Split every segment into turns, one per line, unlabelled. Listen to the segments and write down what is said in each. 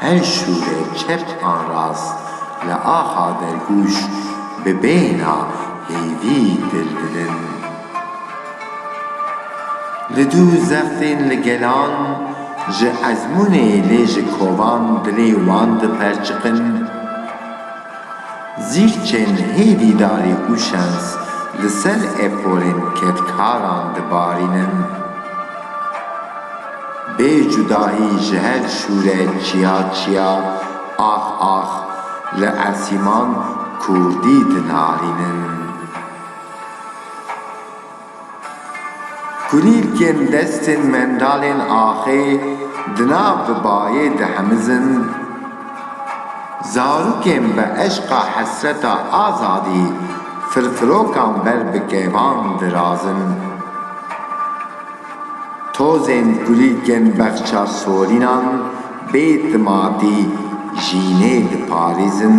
Her şûrê çep an rast li axa dergûş bi bêhna hêvî dil didin. Li dû zextên li gelan ji ezmûnê lê ji kovan dilê wan diperçiqin. Zîrçên hêvî darî û şens li ser eporên kedkaran dibarînin. Bê cudahî ji her şûre çiya çiya, ax ax, li Esîman kurdî dinarînin. Kulîlkên destên mendalên axê di nav bi bayê dihemizin, zarokên bi eşqa hesreta azadî firfirokan ber bi kêvan dirazin. Tozên kulîlkên bexça sorînan bê timatî jînê diparêzin.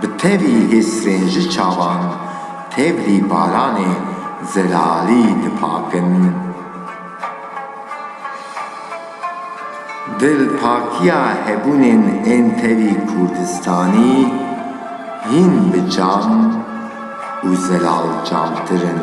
Bi tevî hissên ji çavan tevlî baranê zelalî dipakin. Dilpakiya hebûnên ên tevî Kurdistanî hîn bi cam û zelalcamtir in.